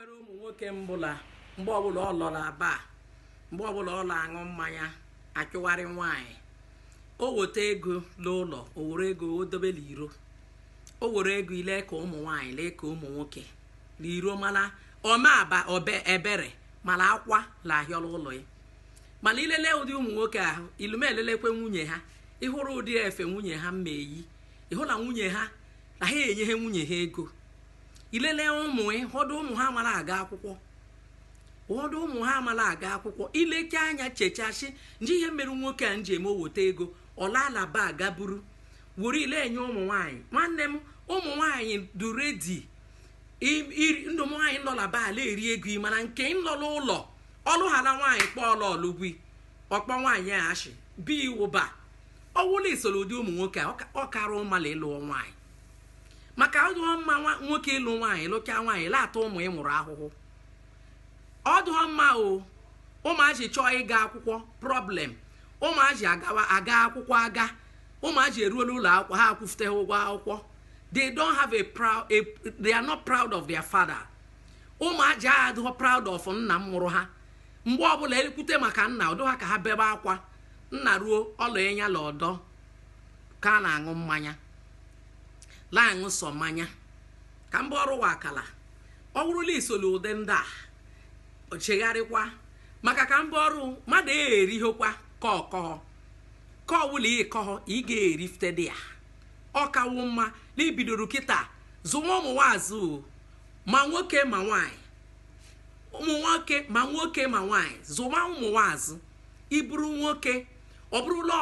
nwere ụmụ nwoke m bụ la mgbe ọbụla ọ lọrọ aba mgbe ọbụla ọ na-aṅụ mmanya achụgharị nwaanyị o weta ego n'ụlọ o were ego o dobe n'iro o were ego ile ka ụmụ nwaanyị lee ka ụmụ nwoke n'iro mana ọma aba obe ebere mana akwa la-ahịọ la ụlọ ya mana i lele ụdị ụmụ nwoke ahụ ilume elelekwe nwunye ha ị hụrụ ụdị efe nwunye ha mma eyi ị hụ na nwunye ha na ha enyegha nwunye ha ego i lele ụmụ ụfọdụ ụmụ ha amala aga akwụkwọ ụfọdụ ụmụ ha amala aga akwụkwọ i leke anya chechasị nje ihe mere nwoke a nji eme o weta ego ọ laala bar aga buru were ile enye ụmụ nwaanyị nwanne m ụmụ nwaanyị dị ready ndụ ụmụ nwaanyị nọ la bar la-eri ego ị mana nke nlọ la ụlọ ọ lụghara nwaanyị kpọọla ụgwụ ọ kpọ nwaanyị a ashị bi iwụba ọ wụ la i soro ụdị ụmụ nwoke a ọ kara ị mma la ị lụọ nwaanyị maka ọ dụghọ mma nwoke ịlụ nwaanyị lụchaa nwaanyị la-ata ụmụ ị mụrụ ahụhụ ọ dụghọ mma o ụmụaji chọọ ịga akwụkwọ problem ụmụaji agawa aga akwụkwọ aga ụmụaji eruola ụlọ akwụkwọ ha akwụfute ụgwọ akwụkwọ they don't have a proud a, they are not proud of their father ụmụaji adịghọ proud of nna m mụrụ ha mgbe ọbụla e kwute maka nna ọ dụ ha ka ha bebe akwa nna ruo ọla enya la ọdọ ka a na-aṅụ mmanya la-aṅụ sọ mmanya ka mba ọrụ wa akala ọ bụrụ la i soli ụdị ndị a chegharịkwa maka ka mba ọrụ mmadụ erihokwa ka ọ kọhọ ka ọ wụ la ị kọhọ ị ga-erifte dị ya ọ kawo mma na i bidoro kịta zụwa ụmụ nwa azụ ma nwoke ma nwanyị ụmụ nwoke ma nwoke ma nwanyị zụwa ụmụ nwa azụ ị bụrụ nwoke ọ bụrụ la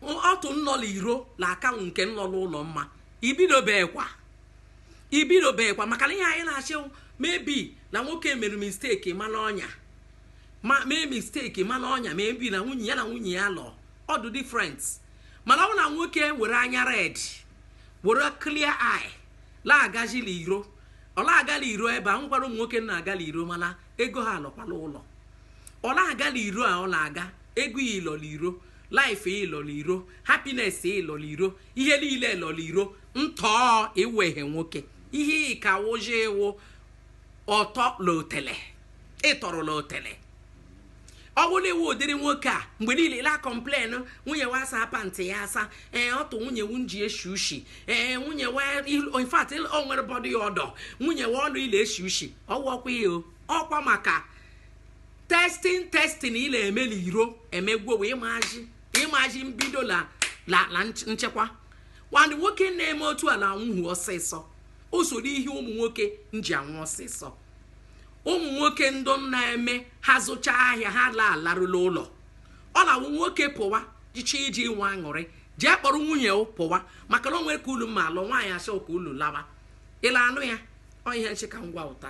ọtụ nnọ la iro na-akanwụ nke nnọ la ụlọ mma i bidobekwa i bidobekwa maka na ihe anyị na-asị maybe na nwoke mere mistake mana ọnya ma mee mistake mana ọnya maybe na nwunye ya na nwunye ya lọ ọ dụ different mana ọ bụ na nwoke were anya red were clear eye la-agaji la iro ọ la-aga la iro ebe a nwekwara ụmụ nwoke na-aga la iro mana ego ha alọkwa la ụlọ ọ na-aga la iro a ọ na-aga ego ya ịlọ la iro life ya ịlọ la iro happiness ya ịlọ la iro ihe niile ịlọ la iro ntọọ ị wụghe nwoke ihe ị ka wụji ị wụ ọtọ la otele ị tọrọ la otele ọ bụrụ na ị wụ ụdịrị nwoke a mgbe niile la complain nwunye wa asa pant ya asa ee ọtụ nwunye wu nji eshi ushi ee nwunye wa il- in fact il- o nwere body odour nwunye wa ọnụ ile eshi ushi ọ wụkwa ihe o. ọ kwa maka testing testing ị na-eme n'iro emegwo wee maji ịmaji mbido la la la nch- nchekwa nwanne nwoke na-eme otu a na anwụhu ọsịsọ o so n'ihe ụmụ nwoke nji anwụ ọsịsọ ụmụ nwoke ndụ na-eme ha zụcha ahịa ha la alarụla ụlọ ọ na-awụ nwoke pụwa jicha iji nwe aṅụrị jee kpọrọ nwunye pụwa maka na o nwere ka ulu mma alụ nwaanyị asọ ka ulu lawa ịla anụ ya ọ ihe nchịka ngwa ụta